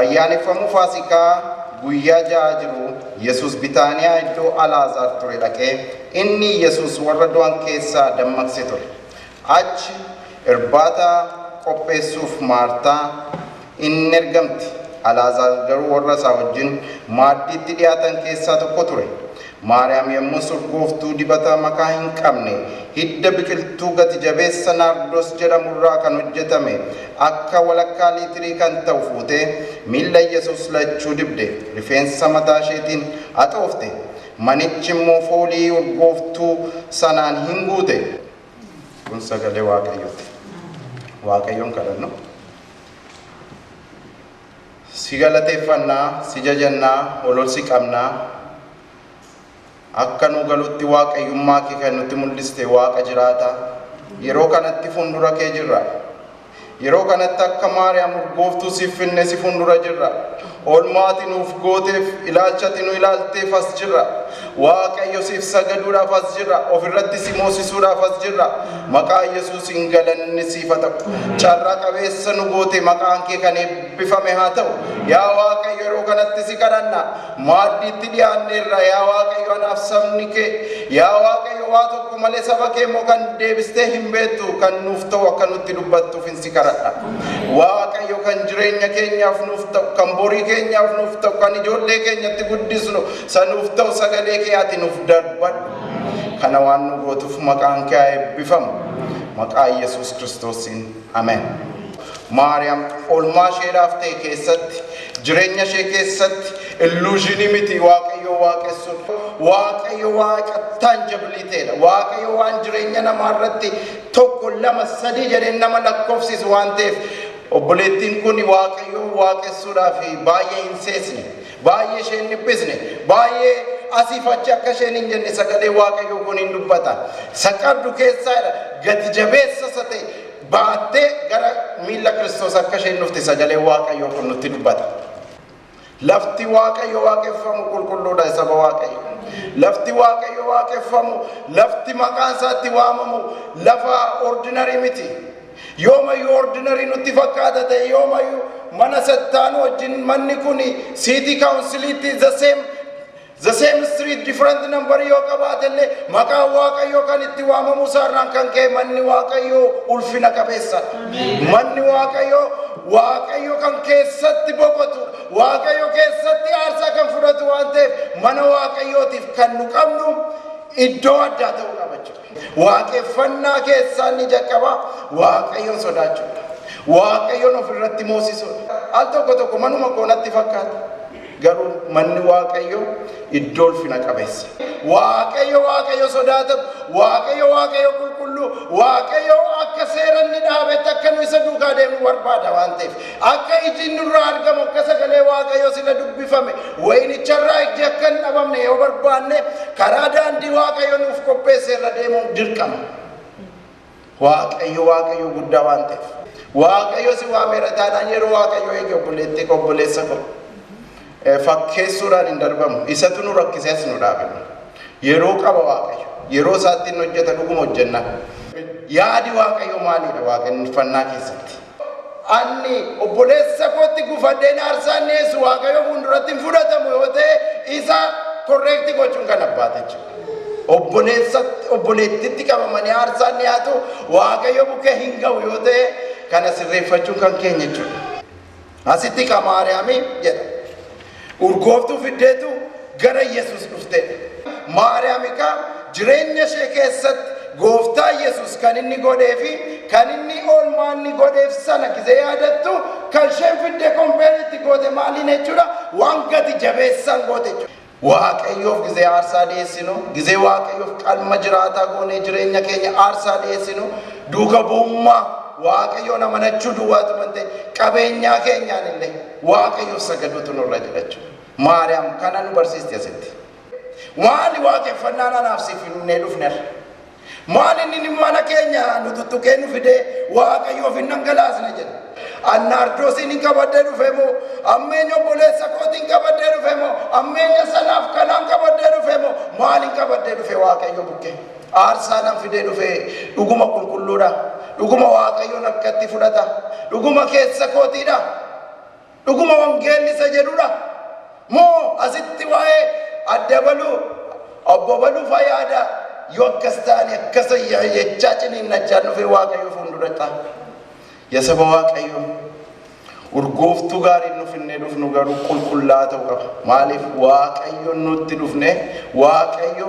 Ayyaaneffamuu Faasikaa guyyaa ja'aa jiruu, Yesuus Bitaaniyaa iddoo Alaazaar ture dhaqe, inni Yesuus warra du'an keessaa dammaqse ture. Achi irbaata qopheessuuf Maartaa in ergamte, Alaazaar garuu warra isaa wajjin maaddiitti dhi'aatan keessaa tokko ture. Maariyaam yommus urgooftuu dibata makaa hin qabne, hidda biqiltuu gati jabeessa naardos jedhamu irraa kan hojjetame akka walakkaa liitirii kan ta'u fuutee, miilla Yesuus lachuu dibde, rifeensa mataa isheetiin haxoofte, manichi immoo foolii urgooftuu sanaan hin guute. Kun sagalee Waaqayyooti. Waaqayyoon kadhannu. Si galateeffanna, si jajanna, ol ol si qabna. Akka nuu galutti Waaqayyummaa kee kan nutti mul'iste Waaqa jiraata. Yeroo kanatti fuundura kee jirra. Yeroo kanatti akka Maariyaam urgooftuu siif finne si fuundura jirra. Oolmaa ati nuuf gooteef, ilaalcha ati nu ilaalteef as jirra. Waaqayyo siif sagaduudhaaf as jirra. Of irratti si moosisuudhaaf as jirra. Maqaa Yesuusiin galanni siif haa ta'u. Carraa qabeessa nu goote maqaan kee kan eebbifame haa ta'u. Yaa Waaqayyo yeroo kanatti si kadhanna. Maaddiitti dhiyaanneerra yaa Waaqayyo anaaf sabni kee. Yaa Waaqayyo waa tokko malee saba kee immoo kan deebistee hin beektu kan nuuf ta'u akka nutti dubbattuuf hin si kadhadha. Waaqayyo kan jireenya keenyaaf nuuf ta'u kan borii keenyaaf nuuf ta'u kan ijoollee keenyatti guddisnu Isa nuuf ta'u sagalee kee ati nuuf darbadhu. Kana waan nu gootuuf maqaan kee haa eebbifamu. Maqaa Yesuus Kiristoosiin. Amen. Maariyaam oolmaa isheedhaaf ta'e keessatti, jireenya ishee keessatti illuushinii miti Waaqayyoo waaqessuun. Waaqayyo waaqa taanjabiliiteedha. Waaqayyo waan jireenya namaa irratti tokko lama sadii jedheen nama lakkoofsisu waan ta'eef obboleettiin kun Waaqayyoo waaqessuudhaaf baay'ee hin seesne. Baay'ee ishee hin dhiphisne. Baay'ee asiif achi akka isheen hin jenne sagalee Waaqayyoo kun hin dubbata. Isa qabdu keessaa jedha gati jabeessa isa ta'e baattee gara miilla Kiristoos akka isheen dhufte sagalee Waaqayyoo kun nutti dubbata. Lafti Waaqayyo waaqeffamu qulqulluudha saba Waaqayyo. Lafti Waaqayyo waaqeffamu, lafti maqaan isaatti waamamu lafa ordinarii miti. Yoomayyuu ordinary nutti fakkaata ta'e yoomayyuu mana sattaanu wajjin manni kun siitii kaawunsiliitti the same the same street different number yoo qabaate illee maqaa waaqayyoo kan itti waamamu isaarraan kan ka'e manni waaqayyoo ulfina qabeessa manni waaqayyoo waaqayyo kan keessatti boqotu waaqayyo keessatti aarsaa kan fudhatu waan ta'eef mana waaqayyootiif kan nu qabnu iddoo addaa ta'uu qaba jechuudha. Waaqeffannaa keessaa inni jalqabaa Waaqayyoon sodaachuudha. Waaqayyoon of irratti moosisuudha. Al tokko tokko manuma koo natti fakkaata. Garuu manni Waaqayyoo iddoo ulfina qabeessa. Waaqayyo Waaqayyo sodaatamu, Waaqayyo Waaqayyo qulqulluu, Waaqayyo akka seera inni dhaabetti akka nu isa duukaa deemnu barbaada waan ta'eef. Akka ijin nurraa argamu akka sagalee Waaqayyo sila dubbifame wayinicharraa ijji akka hin dhabamne yoo barbaanne karaa daandii Waaqayyo nuuf qopheesse irra deemuun dirqama. Waaqayyo Waaqayyo guddaa waan ta'eef. Waaqayyo si waameera taanaan yeroo Waaqayyo eegi obboleettii koo obboleessa koo. Fakkeessuudhaan hin darbamu. Isatu nu rakkisee as nu dhaabe. Yeroo qaba Waaqayyo. Yeroo isaatti hin hojjeta dhuguma hojjennaa. Yaadi Waaqayyo maalidha waaqeffannaa keessatti? Anni obboleessa kootti gufadheen aarsaa inni dhiyeessu Waaqayyo fuulduratti hin fudhatamu yoo ta'e isa korreekti gochuun kan abbaati jechuudha. Obboleessa obboleettitti qabamanii aarsaan dhiyaatu Waaqayyo bukkee hin ga'u yoo ta'e kana sirreeffachuun kan keenya jechuudha. Asitti ka Maariyaamii jedha. Urgooftuu fiddeetu gara Yesus dhufte. Maariyaam egaa jireenya ishee keessatti gooftaa Yesus kan inni godhee fi kan inni oolmaa inni godheef sana gizee yaadattu kan isheen fidde kompeerii itti goote maaliin jechuudha waan gati jabeessaan goote jechuudha. Waaqayyoof gizee aarsaa dhiyeessinu, gizee Waaqayyoof qalma jiraataa goonee jireenya keenya aarsaa dhiyeessinu, duuka bu'ummaa Waaqayyoon amanachuu duwwaatu mantee qabeenyaa keenyaan illee Waaqayyoof sagaduutu nurra jira jechuudha. Maariyaam kana nu barsiisti asitti. Maali waaqeffannaan anaaf si finnee dhufnerra? Maali inni mana keenya nu tuttuqee nu fidee Waaqayyoof hin dhangalaasne jedhe? An naardoosiin hin qabadhee dhufe moo? Ammeenya obboleessa kootiin qabadhee dhufe moo? Ammeenya sanaaf kanaan qabadhee dhufe moo? Maaliin qabadhee dhufe Waaqayyo bukkee? Aarsaa nan fidee dhufe, dhuguma qulqulluu dha, dhuguma Waaqayyoon harkatti fudhata, dhuguma keessa kootii dha, dhuguma wangeelli isa jedhu dha, moo asitti waa'ee Adda Baluu, Obbo Baluu faa yaadaa? Yoo akkas ta'e ani akkasan jechaa ciniinnachaan dhufee Waaqayyo fuundura ta'a. Yaa saba Waaqayyoo, urgooftuu gaariin nu finnee dhufnu garuu qulqullaa'aa ta'uu qaba. Maaliif Waaqayyoon nutti dhufnee Waaqayyo